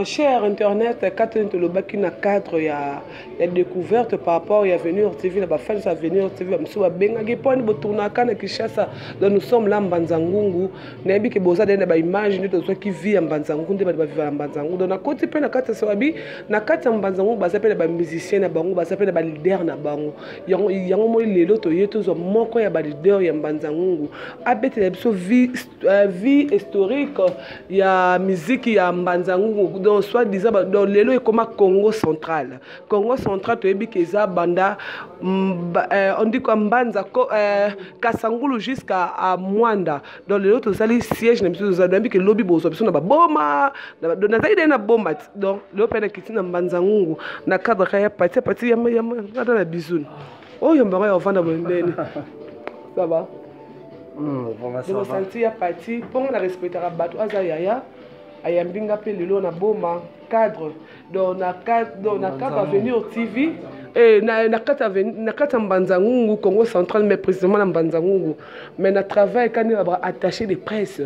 Cher internet kati nini tolobaki na cadre ya, ya découverte par rapport ya avenue ortv na bafans ya avenue ortv bamosusu babengaki mpo ani botournaka na kinshasa donc nous sommes là mbanza ngungu nayebi ke boza dene ba image nde tozwaki vie ya mbanzangu nde bato baviva na mbanzangu donc nakoti mpe na kati ya sababi na kati ya mbanzangu baza mpe na bamusicien na bango baza mpe na balider na bango yango, yango moi lelo toye tozwa moko ya balider ya mbanzangungu abetela biso vie, uh, vie historique ya miziki ya mbanzangungu donc soit disant donc lelo ekoma congo central Congo central toyebi ke eza banda euh, on dit quoi mbanza ko, euh, kasangulu jusqu'à à mwanda donc lelo tozali siège na biso tozali nayebi ke lobi bozwa biso na baboma donc nazali dai na bomba ti donc lelo mpe nakiti na mbanza ngungu na cadre ka ya pati ya pati yamata na bisou oyo mbango ya ofanda mondeni ça va bosanti ya pati mpo nga na respectaka bato aza yaya ayambi nga mpe lelo na boma cadre donc na cap avenir tv eh, na, na kati ya mbanza ngungu congo central mais précisément na mbanza ngungu mais na travail kani na baattaché de presse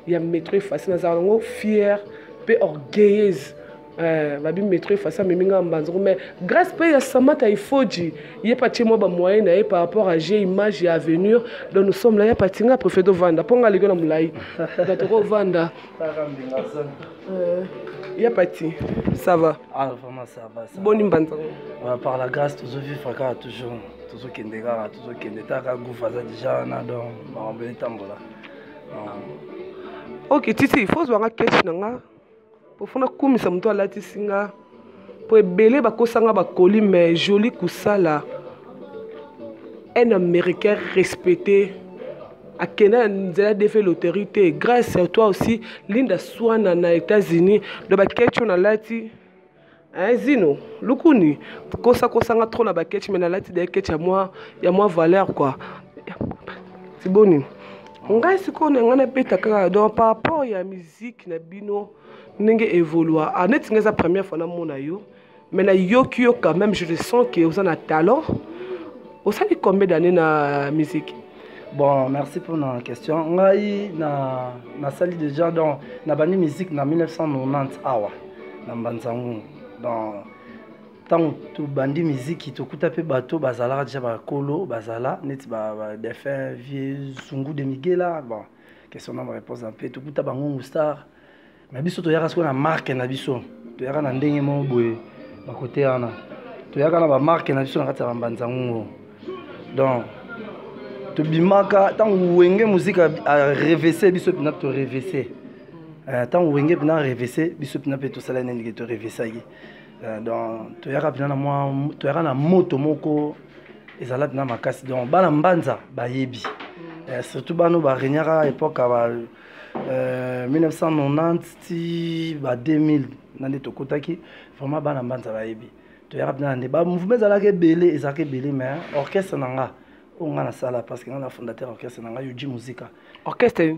ya métro efasi nazala yango fière mpe orgueilleuse eh, babi métro efasi amemi ngai mbanza ngungu mais grâce mpe ya samata ifoji ye mpe atie mwa bamoyen na ye par rapport à g image ya avenir donc nous sommes là ya pati ngai préfet dovanda mpo ngai aleki na molai donc tokovanda Euh, ya pati ça va ah, vraiment ça va ça boni mbanza euh, par la grâce tozovivre kaka toujours tozokende kaka tozokende taka gouve aza déjà wana donc makambo etambola ok titi fozwanga keshe na nga pofuna kumisa moto alatisi nga po ebele bakosanga bakoli mais joli kusala un américain respecté akenda na nzela defe loterie te grâce à toi aussi linda swana na états-unis do baketch oyo nalati hein, zino lukuni kosakosanga trop na baketch me nalati de ketch ya mwa ya mwa valeur kua tiboni ngai sikoyo na ngai nabeta kaka donc par rapport ya miziki na bino ndenge evolua ah, neti nga eza première fois namona yo mais nayoki yo quand même je le sens que oza na talent osali combien d'année na musique bon merci pour na question ngai na nasali déjà donc nabandi musique na 1990 awa na mbanzangungu donc ntango tobandi miziki tokuta mpe bato bazalaka deja bakolo bazala neti badefin vieux zungu de migela bon question na réponse na mpe tokuta bangungu star mais biso toyaka sikoyo na marke na biso toyaka na ndenge moko boye bakote wana toyaka na bamarke na biso na kati ya bambanza ngungu donc tobimaka ntango wenge muzika arevese biso mpena torevese eh, ntango wenge mpena arevese biso mpena mpe tosala nini ke torevesaki eh, donc toyaka mpena na mwa toyaka na moto moko ezala na makasi donc bana mbanza bayebi mm. eh, surtout bana oyo baregnaka époque ba euh, 1990 ti ba 2000 na nde tokotaki vraiment bana mbanza bayebi toyaka mpena na nde bamouvement ezalaka ebele ezalaka ebele mais orchestre na nga oyo nga nasala parce que nga na fondateur orchestre na nga yoji musika orchestre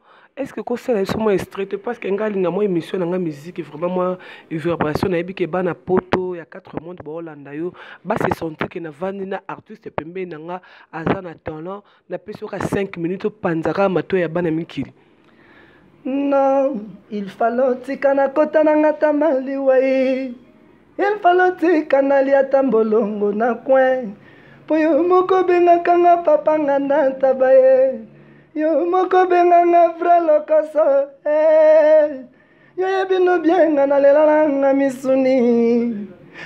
est ce que kosala biso mwa estrete parce que ngai alinga mwa émission na ngai miziki vraiment mwa vibration nayebi ke bana poto ya 4 monde baolanda yo base sentir ke navandi na artiste pembeni na nga aza na talent napesi yoka 5 minutes opanzaka mato ya bana mikili non il falo tika na kota na nga tamaliwai Il fallait tika nalia ata mbolongo na coin mpo yo moko obengaka nga papa nga na ntaba ye yo moko obenga nga vrai lokoso eh. yo yebi no bien nga nalela na nga misuni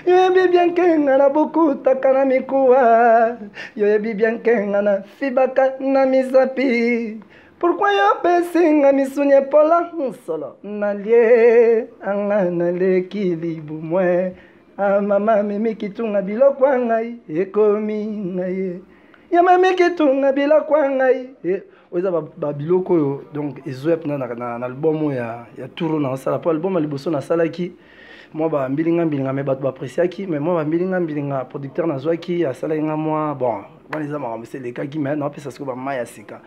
yo yebi bien ke nga na bokutaka na mikuwa yo yebi bien ke nga na fibaka na misapi Pourquoi yo pesi nga misuni epola solo nalie anga naleki libumwe ah, mama mimi kitunga biloko ya ngai ekomi ngaye ya mimi kitunga biloko ya ngai e, oyo eza babiloko oyo donc ezoya mpena na, na, na album oyo ya, ya touro na osala mpo album ya liboso nasalaki mwa bambilinga mbilinga me bato baapreciaki me mwa bambilinga mbilinga producteur nazwaki asalaki nga mwa bon wana eza makambo se elekaki me naopesa siko bamai ya sika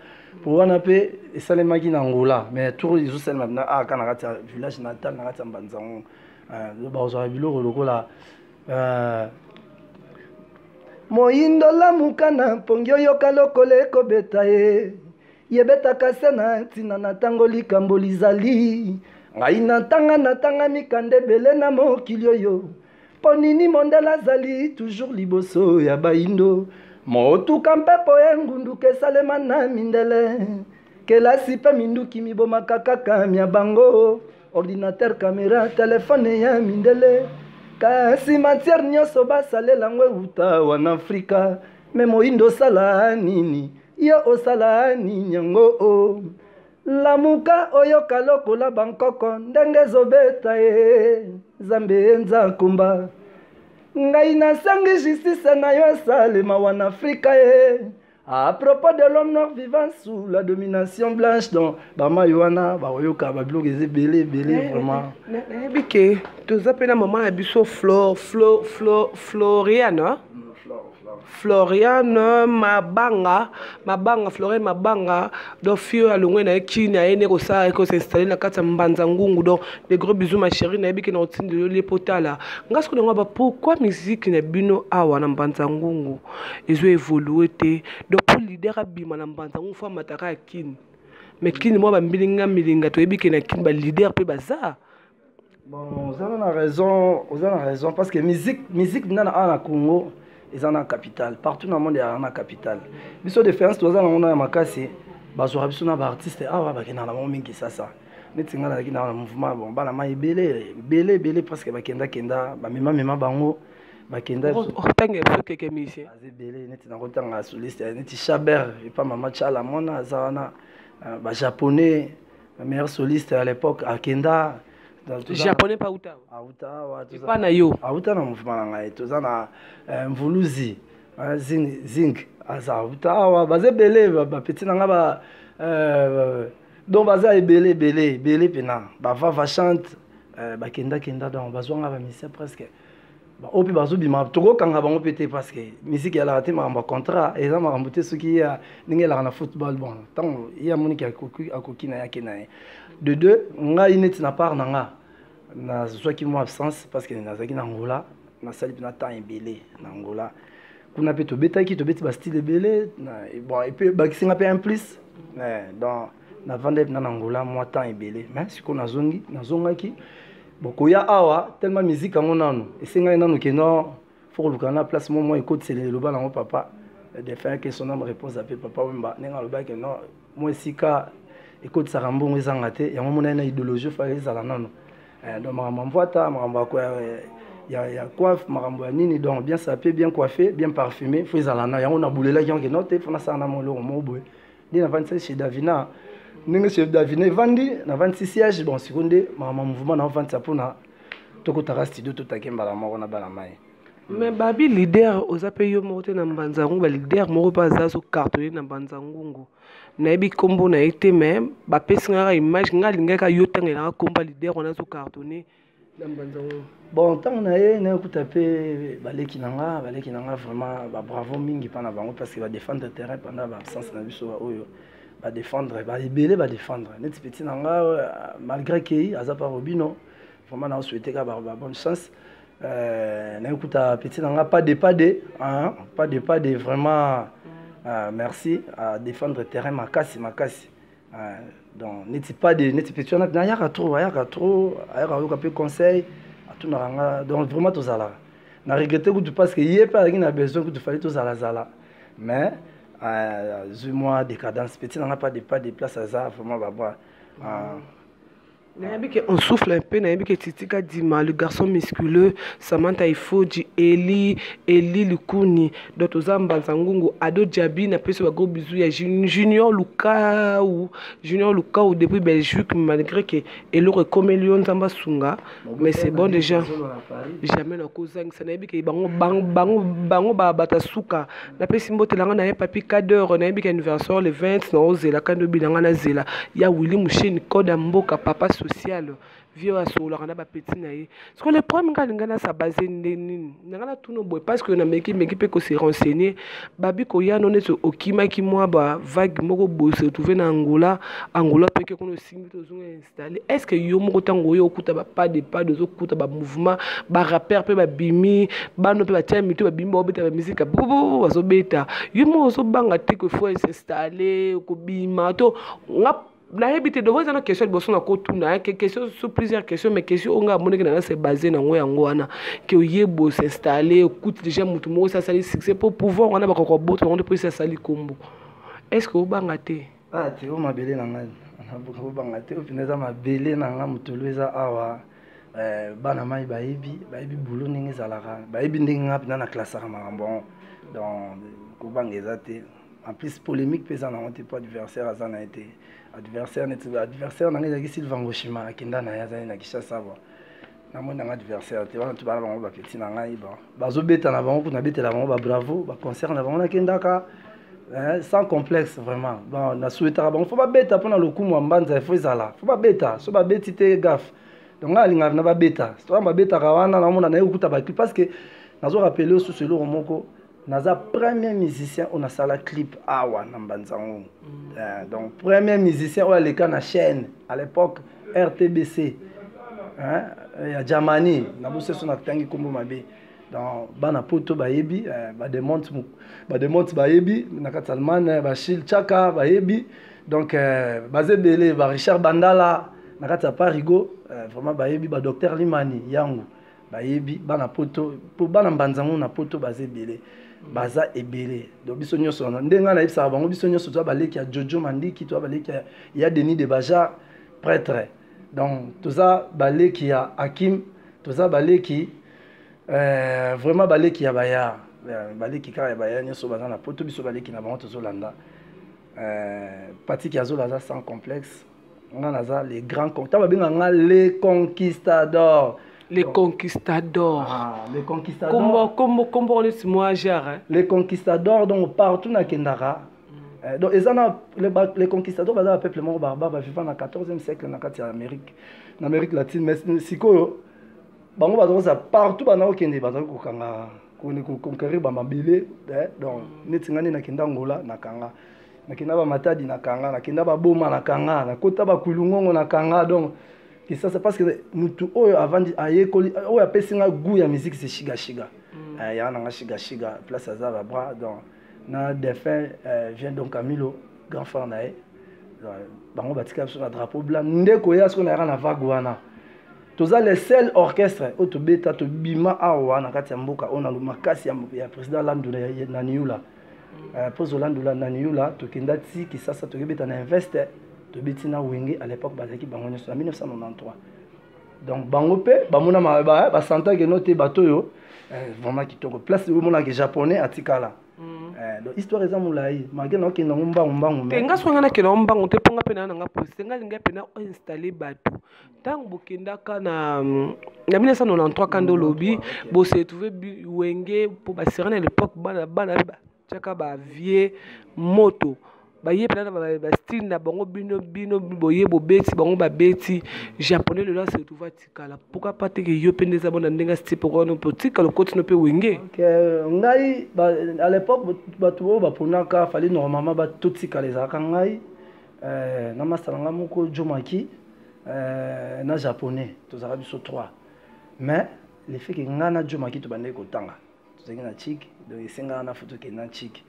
po wana mpe esalemaki na ngola mais tour ezosalema mpena aka na kati ya village natal na kati ya mbanza yango euh, bakozwaka biloko lokola euh, moyindo lamuka na mpongi oyoka lokola ekobeta ye yebetaka se na ntina na ntango likambo lizali ngai natanga natanga mikanda ebele na mokili oyo Mpo nini mondele azali toujours liboso ya bayindo motuka mpepo ya engunduka esalema na mindele kelasi mpe minduki mibomaka kaka mya bango ordinatere kamera telefone ya mindele kasi matière nyonso basalela yango euta wana afrika me moyindo osala nini yo osala nini yango o oh. lamuka oyoka lokola bankoko ndenge ezobeta ye nzambe ye nzakumba ngai nasengi justice na yo esalema wana afrika ye à propos de l'homme noir vivant sous la domination blanche donc bamai wana bakoyoka babiloko eza ebele ebele eh, vraiment eh, eh, nayebi ke toza mpe na mama na biso floriana mm, floriane mabanga mabanga floriane mabanga donc fille oyo alongwe na ye kini aye nde kosala ko s'installe na kati ya mbanza ngungu donc de gros bisous ma chérie nayebi ke na kotindela yo lie mpo tala nga soki nango aba pourquoi musique na bino awa na mbanza ngungu ezo évolue te donc mpo leader abima na mbanza ngungu fo amataka ya kini mais kini mwa bambilinga milinga toyebi ke na kini baleader mpe baza bon oza na raison oza na raison parce que musique musique nana awa na congo eza na capital partout na monde ezalaka na capital biso différence toza nango na ya makasi bazwaka biso na baartiste awa bakendaka na bango mingi sasa neti ngai nazalaki na mouvement bon bana mai ebele ebele ebele presque bakendakenda bamemamema bango bakenda otanga biso keke musicien aza ebele neti nakotanga soliste neti chaber epa mama chala mwana aza wana euh, bajaponais Le meilleur soliste à l'époque, Akenda. Japonais pas Uta. Auta, ouais, tout ça. Pas na yo. Auta na mouvement na ngai. Tout ça na euh, Mvuluzi, hein, Zing, Zing. Aza Uta, ouais, baze belé, ba petit na nga ba. Euh, donc baza ebele ebele ebele pena bava va chante euh, bakenda kenda donc bazwanga bamisien presque baoyo mpe bazobima tokokanga bango mpe te parce que misiki yalaka te makambo ya contrat eza makambo te soki ye ndenge elaka na football bon ntango ye amoniki akoki na ye ake na ye de deux ngai neti na part na nga nazwaki mwa absence parce que nazalaki na angola nasali mpena temps ebele na angola kuna mpe tobetaki tobeti bastyle ebele bon epe bakisi nga mpe un plus donc navandaki na na ngola mwa temps ebele me sikoyo nazongi nazongaki bokoya awa tellement miziki yango nano esengaki nano keno fo koluka na place mo mwa ekotisela eloba nango papa defunt ke son ame repose ape papa wemba ndenge alobaki no mwa esika ekotisaka mbongo ezanga te yango monai na idéologie ofaka ezala nano eh, donc makambo ya mvwata makambo ya ya coiffe makambo ya nini donc bien sape bien coiffe bien parfume fo ezala na yango nabulelaki yango ke no te fo nasala na mwa eloko moko boye nde navandisaki chez davina ndenge chez davina evandi navandisi siège bon siko nde mama mouvement naovandisa mpona tokotaka studio totake mbala moko na bana mai me babi leader oza mpe yo moko te na mbanza ngungu baleader moko mpe aza so cartone na mbanza ngungu nayebi nkombo na ye te me bapesi ngaka image ngai alingaka yo ntango elaka nkombo ya leader wana azo cartone bon ntango na ye nayokuta mpe baleki na nga baleki na nga vraiment babravo mingi mpa na bango parce que badefendre terrain pendant baabsence na biso baoyo badefendre baebele badefendre neti petit na nga euh, malgré kei aza mpa robino vraiment nao souhaite ka babonne chance euh, nayokuta petit na nga pas de pas de pas de pas de vraiment euh, merci adefendre terrain makasi makasi ah, donc neti pas de neti petit wana nayaka trop ayaka trop ayaka ayoka mpe conseil atunaka nga donc vraiment tozalaka na regrette kutu parce que ye mpe azalaki na besoin kutu fali tozalazala mais azwi mwa décadence petit nanga pas de pas de place aza vraiment babwa ah. nayebi ke on souffle un peu nayebi ke titi kadima le garçon musculeux samantha ifoji eli eli lukuni donc toza mbanza ngungu ado diabi napesi bagro bizu ya junior lukau junior lukau depuis belgique malgré ke eloko ekomeli yo nzambe asunga mais c'est bon déjà jamais nakozangisa nayebi ke bango bango bango bato ya suka napesi mbote na ngai na ye papi cadeur nayebi ka anniversaire le 20 na ozela kandi obi na ngai nazela ya willi musheni code ya mboka papa social vie oyo asololaka na bapeti na ye siko le problème ngai alingai nasa base nde nini na ngai natuna boye parce que nameki meki mpe kose renseigner babi koyano neti okimaki mwa bavague moko boye se retrouve na angola angola mpe ke kuna osimbi tozonga est ce que yo moko ntango oyo okuta bapas de pas de ozokuta bamouvement barapeur mpe babimi bano mpe batia mitu babimi baobeta bamizika bobobo bazobeta yo moko ozobanga te que faut s'installe kobima to nga nayebi te devoir eza na question liboso na kotuna eh, question sur plusieurs questions mais question oyo ngai amonaki nanga se base nango yango wana ke oye bo s'installe okuti déjà motu moko esi asali succès mpo pouvoir wana bakoka kobota yango nde mpo esi asali nkombo est ce que obanga te ah te o mabele na ngai kobanga te oyo mpenza eza mabele na ngai motolo eza awa eh, bana mai bayebi bayebi bulo ndenge ezalaka bayebi ndenge ngai mpenza na klasaka makambo yango donc kobanga eza te en plus polémique mpe eza nango te mpo adversaire aza na ye te adversaire neti adversaire na ngai ezalaki sylvangoshima akenda na ye azali na kishasa awa namoni nanga adversaire te wana tobana bango bapeti na ngai bon bazobeta na bango kuna betela bango babravo baconcert na bango nakendaka eh, sans complexe vraiment bon nasuetaka bango fo babeta mpona lokumu ya mbanza efo ezala fo babeta so babeti te gafe donc ngai alingaka na babeta soa babetaka wana naomona naye kokuta bacli parce que nazo rappele osusu eloko moko naza premier musicien oyo nasala clip awa na mbanzango mm. eh, donc premier musicien oyo aleka na chaîne à l'époque rtbc hein, ya germanie na boseso natangi nkombo mabe donc bana poto bayebi eh, bademonte bayebi na kati allemagne eh, bashil chaka bayebi donc eh, baza ebele ba richard bandala na kati ya parigo eh, vraiment bayebi badocteur limani yango bayebi bana poto mpo bana mbanza ngo na poto baza ebele baza ebele donc biso nyonso wana nde ngai nayebisaka bango biso nyonso toza baleki ya jojo mandiki toza baleki ya, ya denis de bajar prêtre donc toza baleki ya hakim toza baleki euh, vraiment baleki ya bayar euh, baleki kaka ya bayar nyonso baza na poto biso baleki na bango tozolanda euh, patiki azola aza sans complexe nga naza le grand ntango babenga nga le conquistador le conquistador ah, le conquistador kombo kombo kombo neti mwa genre le conquistador donc partout nakendaka Eh, donc eza na les conquistador baza ba peuple moko barbare baviva na 14e siècle na kati ya amérique na amérique latine mais sikoyo bango baza kozala partout bana kokende bazali kokanga koconquerir bamabele eh, donc neti ngai nde nakenda angola nakanga nakenda ba matadi na kanga nakenda ba boma na kanga nakota ba kulungongo na kanga donc kisasa parce que mutu oyo avandi ayekoli oyo apesi nga goût ya musique c'est shiga shiga mm. eh, ya na nga shiga shiga place aza ba bras donc na défunt euh, vient donc Camilo grand frère na ye bango batika biso na drapeau blanc nde koya soki nayaka na vague wana toza le seul orchestre oyo tobeta tobima awa na kati ya mboka oyo na makasi ya président landula na niula euh, mpo zolandula na niyula tokenda ti kisasa tokebeta na investe tobeti na wenge à l'époque bazalaki bango nyonso na 1993 donc bango mpe bamona basantaki no te bato oyo euh, vraiment kitoko place omonaki japonais atikala mm. euh, donc histoire eza molai mage naokenda yango mbangu mbangu te nga soki nga nakenda yango mbangu te mpo nga mpe naa nanga posi te nga lingai mpe na oinstalle bato ntango bokendaka na na 1993 kanda olobi bose retrouve wenge mpo basera na lepoque bana bana batyaka bavie moto baye mpena na bastile na bango bino bino boye bobeti bango babeti japonais lelo ase retrouve atikala mpoka mpa teke yo mpe nde eza bona ndenge asiti mpoka no mpo otikala okotino mpe wenge ngai à l'époque bato oyo baponaka fali normalement totikala ezalaka ngai eh, na masta na ngai moko jomaki eh, na japonais tozalaka biso trois mais le fait ke ngai na jomaki tobandaki kotanga tozalaki na chik donc esengaka na foto kenda chik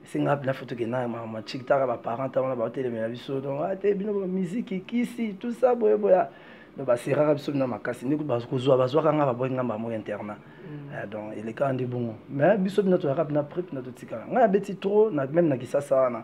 esenga mpena foto kenda mama chik taka baparent ta wana baotelemela biso donc ate ah, bino bamiziki kisi tout ça boyeboya donc baseraka biso bino makasi nde kozwa bazwaka ngai baboyi ngai bango internat mm. eh, donc elekaka nde bongo mais biso bino toyaka bina prep na totikala ngai abeti trop même na kisasa wana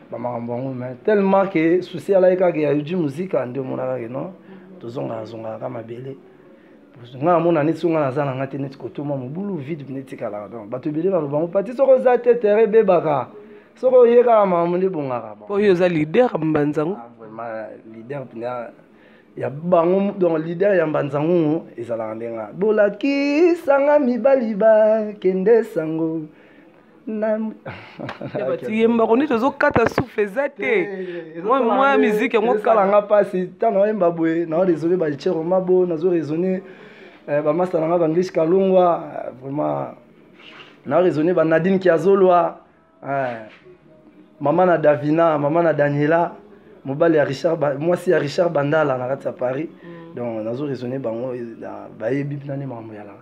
bamakambo yango me tellement ke susi alaki kaka ya uji muzika nde omonaka ke non tozongaka zongaka ka mabele nga amona neti songa naza na nga te neti kotoma mobulu vide netikalaka donc bato ebele baloba yango pati soki oza te tere ebebaka soki oye kaka makambo nde ebongaka oyo oza lider mbanzango ah, lider mpena ya bango donc lider ya mbanzango ezalaka ndenge bolakisanga mibali bakende sango yembako nde tozokata souffle eza te mwa miziki yango esalanga mpasi ntango naoyemba boye nao raisonne balichero mabo nazo raisonne eh, bamasta na nga banglish kalongwa eh, vraiment nao raisonne banadine kiazolwa eh, mama na davina mama na daniela mobali ya richard mwasi ya richard bandala na kati ya paris mm. donc nazo raisonne bango bayebi mpinani makambo yalaka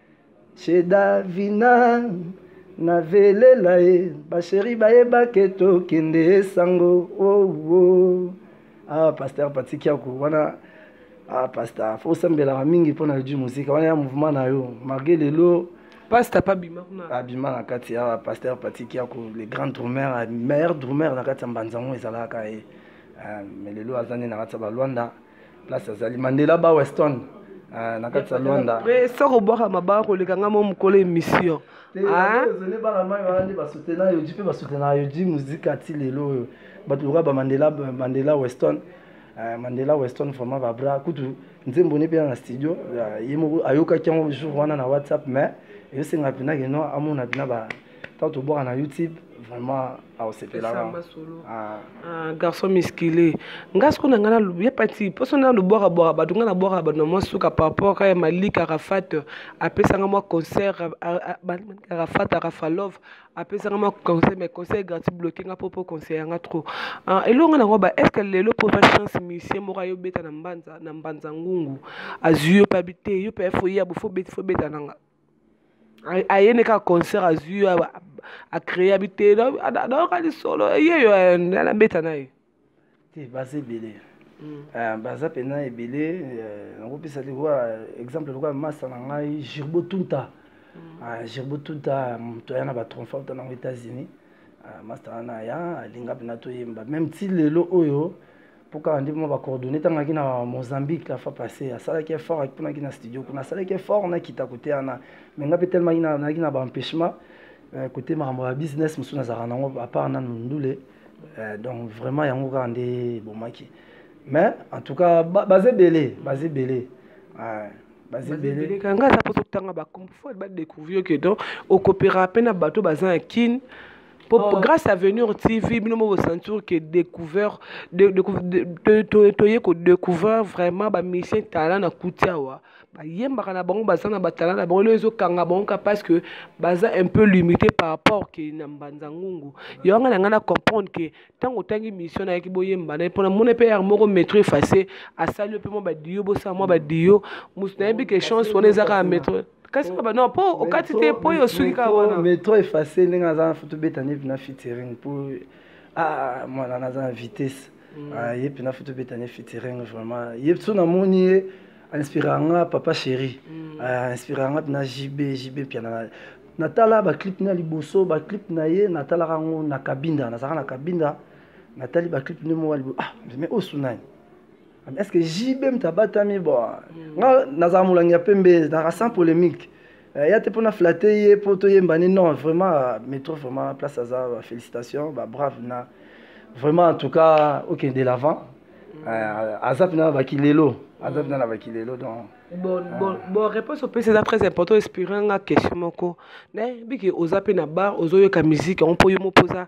Chez Davina na velela ye basheri bayebake tokende esango oh, oh. ah, pasteur patikiako wana ah, pasta fo osambelaka mingi mpo na odi mosika wana ya mouvement na yo marke lelo pasta pa bima kuna abima na kati ya pasteur patiki yako le grand drumeur meilleur drumeur na kati ya mbanza yango ezalaka ye eh, mais lelo aza nde na kati ya balwanda place azali mandela ba weston ah, na kati ya lwanda soki obwaka mabaa koleka nga mo mokolo émission ah? ezali bana mai wana nde basutena yoji mpe basutena yoji muzika ti lelo oyo bato lokola bamandela mandela weston eh, mandela weston vraiment babra kutu nzembo ne mpena na studio eh, ye moko ayokaki yango jour wana na whatsapp mais eyosenga mpena keno amona mpena ntango tobwaka na youtube vraiment aosepelaka ah. ah, garçon muscule nga siko na nga nalobi epati mposo na lobwaka bwaka bato nga nabwaka bato na mwa suka par rapport kaka ya malik arafat apesanga mwa concert arafat arafalove apesanga mwa conseil mais conseil gratuit bloke nga mpo mpo conseil yanga trop ah, eloko nga nango ba est ce que lelo mpo va chance musicien moko ayo beta na mbanza na mbanza ngungu azwi yo pabi te yo mpe fo ya bofo beti fo beta nanga aye ne kaka concert azwi yo acreye abi te nayoka lisolo yeyo nabeta na ye te baza ebele mm. ah, baza mpena ebele eh, nakopesa lokola exemple lokola masa na ngai girbo tunta mm. ah, girbo tunta moto aya na batronfa uta nango états-unis ah, masta wana aya alinga mpena toyemba meme ti lelo oyo mpo kaka nde mwa bacoordonne ntangaki na mozambique la fois passé asalaki effort akiponaki na studio kuna asalaki effort nakita kote wana mai ngai mpe telemaki nayaki na baempêchement euh, kote makambo ya business mosusu nazalaka nango apart nanu ndule euh, donc vraiment yango kaka nde ebomaki mais en tout cas baza ebele baza ebele bazebelekanga aza mpo totanga bakombo fo badécouvrir que donc okopera mpe na bato baza ya kine Pour, oh. grâce à venir TV bino mo sentir que découvert de de de to to yeko découvert vraiment ba musicien talent na kutia wa ba yembaka na bango baza na ba talent na bango ezo kanga bango ka parce que baza un peu limité par rapport que na mbanza ngungu yo nga na comprendre que tango tangi mission na yaki boyemba na pona mona pe yar moko metro effacer asali pe mo ba dio bo sa mo ba dio musu na yebi que chance wana ezaka metro kasi kaba non po okati te po yo osuki kaka wana mais trop efface ndenge aza tobeta ne mpena featuring po ah mwana naza na vitesse mm. ah, ye mpena fo tobeta ne featuring vraiment ye so namoni ye inspiraka nga papa chéri mm. ah, inspiraka nga mpena jb jb mpiana natala baclip na liboso baclip na ye natalaka yango na kabinda nazalaka na kabinda natali baclip nde moko ya liboso ah mais oyo sunani est ce que jb moto abatami bo mm. nga nazala molangi ya pembe naka sans polémique euh, ya te mpona flatte ye mpo toyemba ni non vraiment euh, métro vraiment place aza euh, félicitation babrave na vraiment en tout cas okende okay, de l'avant mm. aza mpena na bakilelo aza mpena na bakilelo donc bon, ah. bon, bon réponse opesi eza très important espire nga question moko nayebiki oza mpe na bar ozoyoka miziki yango mpo yo moko oza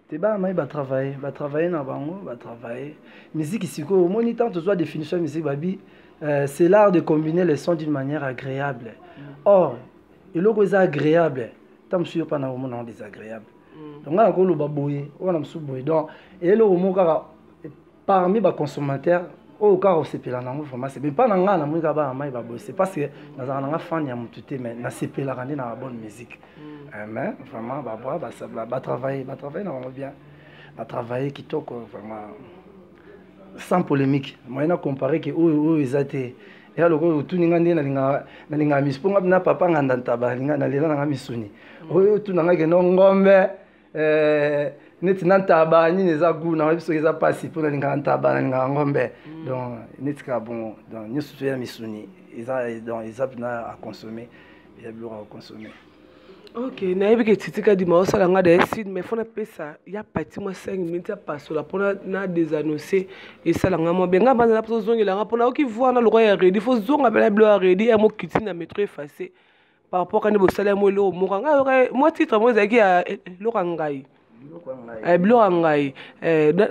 te bana mai batravaille batravaille na bango batravaille miziki sikoyo omoni ntango tozwa définition ya miziki babi euh, c'est l'art de combiner les sons d'une manière agréable mm. or eloko eza agréable nta mosusu yo mpa na omona yango désagréable mm. donc ngai nakoloba boye wana mosusu boye donc eloko moko kaka parmi ba consommateur oyo kaka osepela nango vraiment c'est pas na ngai namoni kaka bana mai babose parce que nazalaka na ngai fan ya motu te mais nasepelaka nde na bonne musique mm. eh, mais vraiment babwa batravaille batravaille na bango bien batravaille kitoko vraiment sans polémique moyen na compare ke oyo oyo eza te ya lokola otuni ngai nde nalingaka misu mpo ngai na papa nganda ntaba nalela na ngai misuni mm. oyo otuna ngai keno ngombe eh, neti na ntaba nini eza gu nayebi soki eza mpasi mpo nalingaka ntaba nalingaka ngombe mm. donc neti kaka bongo donc nyonso to ya misuni eza donc eza mpena aconsomme ya biloko ya koconsomme ok nayebi ke titika dima osala nga daye sud mais fo napesa ya pati mwa 5 minute ya pasola mpo na desannonce esala nga mwa benga banzala mpo tozongela nga mpo nayoki voi na lokwa ya redi fo zonga mpena bilo ya redi ya mokiti na metro efface par rapport kani bosala yango eloko moko ngai yoka mwa titre moko ezalaki ya eh, eh, eloko ya ngai eh, biloko ya ngai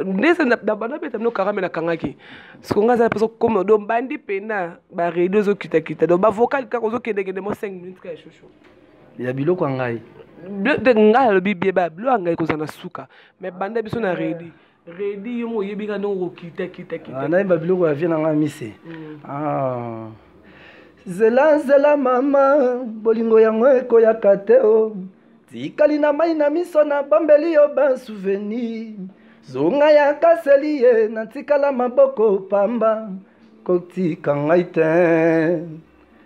ndese nabanda beta mino karame nakangaki siko ngai azala mposa kokoma do bandi mpena baredio ezokitakita do bavocal kaka ozokendekende mo 5 minutes kaka shosho ya biloko ya ngai ngai alobi bieba biloko ya ngai kozala na suka mais banda biso na redi Redi yo mo yebi ka ndongo kita kita kita. Ah, na yemba biloko ya vie na nga mise. Mm. Ah. Zela zela mama bolingo yango ekoyaka te o. Oh. Tikali na mai na miso na bombeli yo ba souvenir. Zonga ya kaseli ye na tikala maboko pamba kotika ngai te.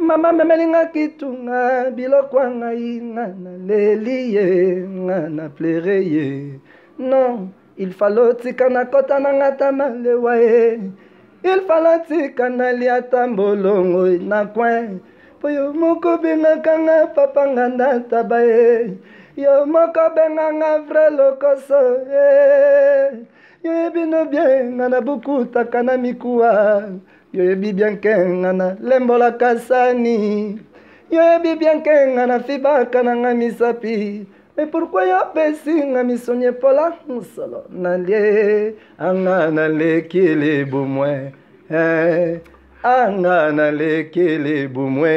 mama memeli nga kitunga biloko ya ngai nga naleli ye nga na plere ye non il falo tika na kota na nga ta malewa ye il falo tika nalia ta mbolongo na coin mpo yo moko bengaka nga papa nga ndataba ye yo moko benga nga vrai lokoso ye yo ye bino bie nga na bukutaka na mikuwa yoyebi bien ke nga na lembolaka sani yoyebi bien ke nga na fibaka na nga misapi mais pourquoi yo pesi nga misoni epola mosolo nalie anga naleki libumwe eh, anga naleki libumwe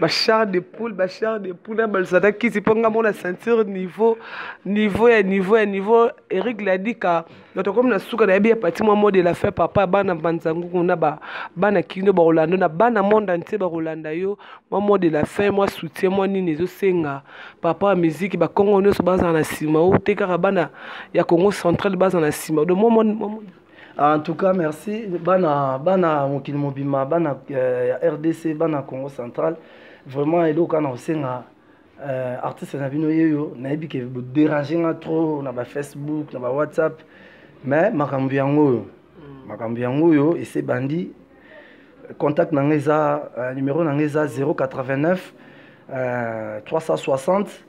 bachar de poule bachar de poule na baluzana kisi mpo nga mona ceinture niveau niveau ya niveau ya niveau eric ladika bato akomi na suka nayebi ya pati mwa mode la fin papa bana banzanguku na bana kino bakolanda na bana monde entier bakolanda yo mwa mode la fin mwa soutien mwa nini ezosenga papa ya miziki bakongo nyonso bazala na nsima o te kaka bana ya congo central bazala na nsima do mwa en tout cas merci bana bana mokili mobima bana euh, ya rdc bana congo central vraiment eloko kaka na kosenga euh, artiste na bino yeyo nayebi ke boderange nga trop na bafacebook na bawhatsapp mais makambo yango oyo mm. makambo yango oyo ese bandi contact na ngai eza euh, numero na ngai eza 089 euh, 360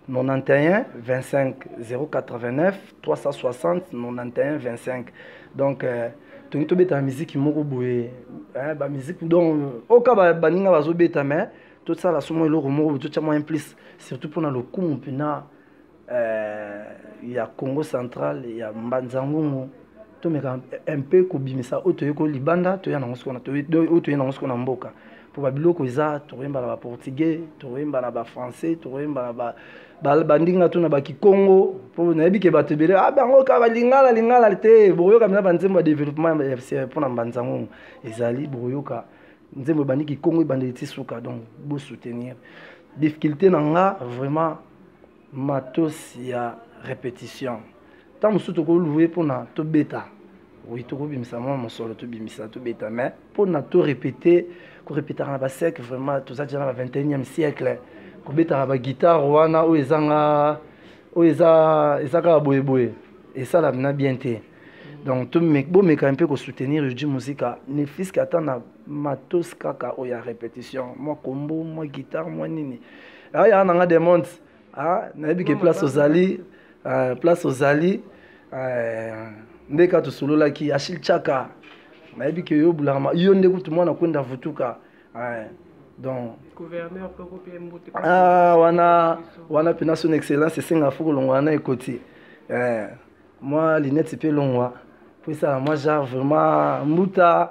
91 25 089 360 91 25 donc euh, tolingi tobetaka miziki moko boye eh, bamiziki donc oka baninga bazobeta mais tosala somo eloko moko boye totya moyen plus surtout mpona lokumu mpena euh, ya congo central ya mbanzangungu tomeka un peu kobimisa oyo toyekoli libanda toya nango sikoyo oyo toye nango sikoyo na mboka mpo babiloko eza tokoyemba na baportugais tokoyemba na bafrançais tokoyemba na ba bandingi na to na bakikongo mpo nayebi ke bato ebele ah, bango kaka balingala lingala te bokoyoka mpenza banzembo ya développement mpo na mbanza ngongo ezali bokoyoka nzembo ebandi kikongo ebandeli ti suka donc bosoutenir difficulté na nga vraiment matos ya repetition ntango mosusu tokolue mpona tobeta oui tokobimisa mwa mosolo tobimisa tobeta mais mpona torepete korepetaka na basiècle vraiment toza deja na ba 21e siècle kobetaka baguitare wana oyo ezanga oyo eza eza kaka boyeboye esalaka na bien te donc bomeka mpe kosoutenir yoji musika ne fiske ata na matos kaka oyo ya répétition mwa kombo mwa guitare mwa nini ah, ya nanga de monde ah, nayebi ke place ozali ah, place ozali nde ka tosololaki achil chaka nayebi ke yo bulama yo nde kutu mwana kwenda vutuka donc ah, wana wana mpena son excellence esenga fo kolongwa na ekoti eh, mwa linete mpe longwa mpo esala mwa genre vraiment mbuta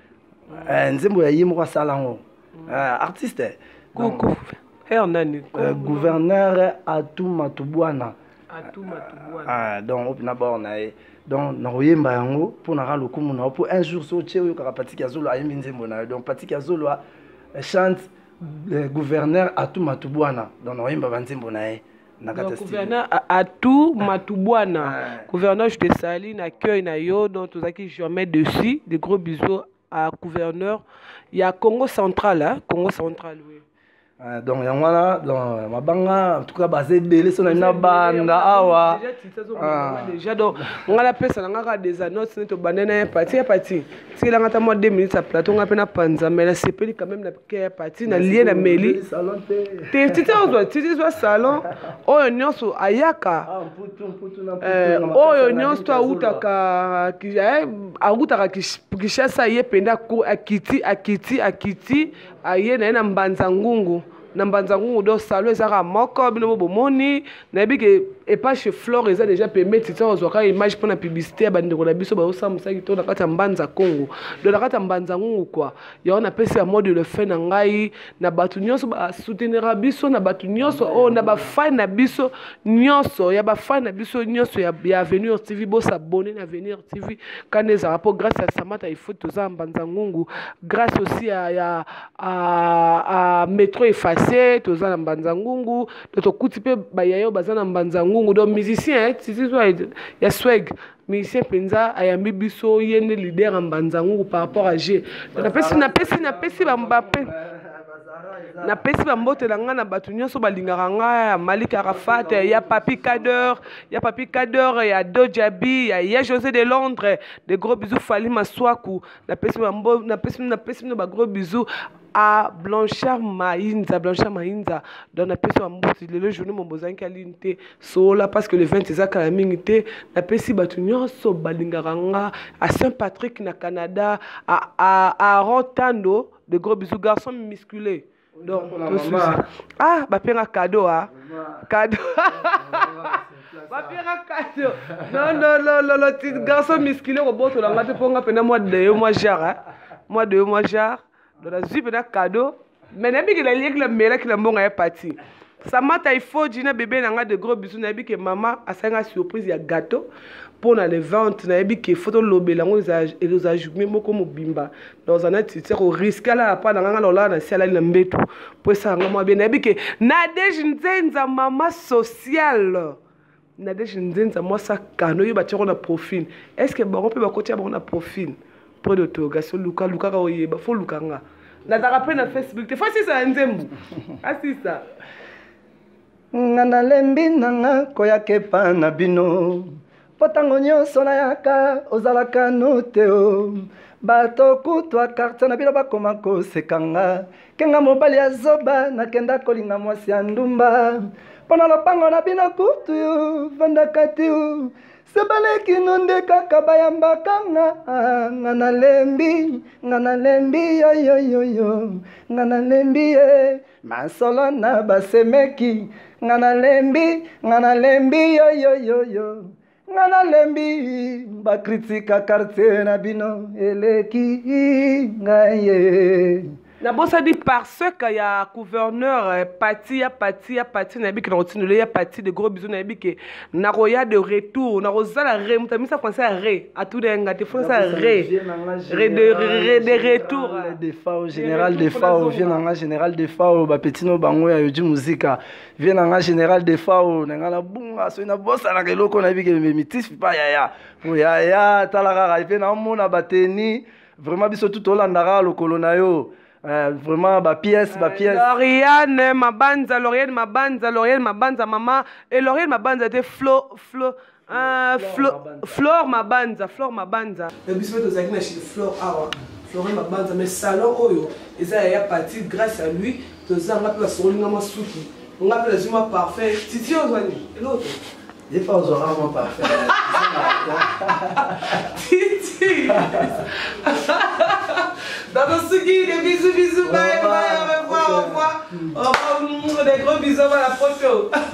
eh, nzembo ya ye moko asala yango mm. eh, artiste eh, gouverneur atu matubwana ah, donc opi na bor na ye donc nakoyemba yango mpo naka lokumu na yo mpo un jour so otie oyokaka patiki ya zolo ayembi nzembo na yo donc patiki ya zolo chante gouverneur atu matubwana donc nakoyemba banzembo na ye na kati ya studio. gouverneur a- atout matubwana Ah. gouverneur je te salue na accueil na yo donc tozalaki jamais dessus de gros bisous à gouverneur ya congo central hein? congo central oui. Ah, donc yango wana donc, mabanga en tout cas baza ebele so na na banda awa Déjà, tu sais, Ah. on- déjà donc nga napesa na nga kaka des annonces neti obanda na ye pati ya pati tikelanga ata mwa 2 minutes ya plateau nga mpe napanza mais nasepeli quand même na ke pati na lie na meli te titi ozwa titi zwa salon oyo nyonso ayaka ah, eh, oyo nyonso to awutaka eh, awutaka kishasa ye mpenza akiti akiti akiti aye na ye na mbanza ngungu na mbanza ngungu do salon ezaka moko bino bo bomoni nayebi ke epa chez flore eza déjà pembe titi ozwaka image mpo na publicité ya bandeko na biso baosamusaki to na kati ya mbanza congo do na kati ya mbanza ngungu kua yango napesi ya mode le fin na ngai na bato nyonso basoutenira biso na bato nyonso oyo oh, na bafani na biso nyonso ya bafani na biso nyonso ya, ya avenir tv bosabone na avenir tv kani ezalaka mpo grâce ya samata ifo toza mbanza ngungu grâce aussi ya, ya a, a metro efface toza na mbanza ngungu to tokuti mpe bayayo baza na mbanza ngungu donc musicien eh, ya sweg musicien mpenza ayambi biso ye nde leader ya mbanzangungu par rapport à je napesi napesi napesi bambape napesi bambote na ngai na bato nyonso balingaka ngai ya malik arafat ya papi cadeur ya papi cadeur ya dojabi ya ya josé de londres de gros bisous fali maswaku napesi napesi bino bagros bisous a blanchard mainza blanchard mainza donc napesi wa mbuti lelo journée mobo ozangi alini te soola parce que le 20 eza kala mingi te napesi bato nyonso balingaka nga a saint patrick na canada aaron tando de gros bisous garçon musculé donc ah bapenga cadeau a cadeau bapera cadeau non non non non non ti garçon musculé kobotola nga te mpo nga mpena mwa de yo mwa jare mwa de yo mwa jare donc nazwi mpena cadeau me nayebi ke nalieki na melaki na mbongo ya pati samata ifoji na bebe na ngai de gros bisu nayebi ke mama asali ngai surprise ya gateau mpo na le vente nayebi ke fo tolobela yango ekozala journe moko mobimba naoza na titi koriske alala mpa na ngai ngai naolala na si alali na mbetu mpo esala ngai mwa bie nayebi ke nadege nzenza mama sociale Nadège Nzenza mwasi akano yo batiako na profil est ce que bango mpe bakotia bango na profil près de togas oluka lukaka oyeba fo luka nga nazalaka mpe na facebook te fo asisa ya nzembo asisa nga nalembi na nga koyaka epa na bino mpo ntango nyonso nayaka ozalaka no te o bato kutu a kartier na bino bakoma koseka nga kenga mobali ya zoba nakenda kolinga mwasi ya ndumba mpo na lopango na bino kutu vandaka tiu sebalekino nde kaka bayambaka nga nga nalembi nga nalembi yoyoyoyo nga nalembi ye masolo na basemeki nga nalembi nga nalembi yoyoyoyo nga nalembi bakritika kartier na bino eleki ngaye nabosani parseke ya gouverneur eh, pati ya pati ya pati nayebi ke nakotindola ya pati de gros biso nayebi ke nakoya de retour nakozala re moto amisa français ya re atuna ya nga te français ya re de retour de fao général de fao vie na nga général de fao bapetino bango ya yoji muzika vie na nga général defao na nga nabunga soki nabosanaka eloko nayebi ke mitis pa yaya po yaya tala kaka mpe namona bateni vraiment biso tu tolanda kaka lokolo na yo Uh, vraiment ba pièce ba pièce uh, Lauriane Mabanza Lauriane Mabanza Lauriane Mabanza maman et Lauriane Mabanza était Flo Flo Ah, Flo, Flore Mabanza, Flore Mabanza. Na biso pe tozalaki na chez Flore awa. Flore Mabanza mais salon oyo eza ya ya partie grâce à lui toza nga pe basokoli nga mwa suki. Nga pe nazwi mwa parfum. Titi ozwani eloko. Des fois ozwaka mwa parfum. Titi. Dans suki des bisous bisous bye bye au revoir au revoir. Au revoir des gros bisous à la photo.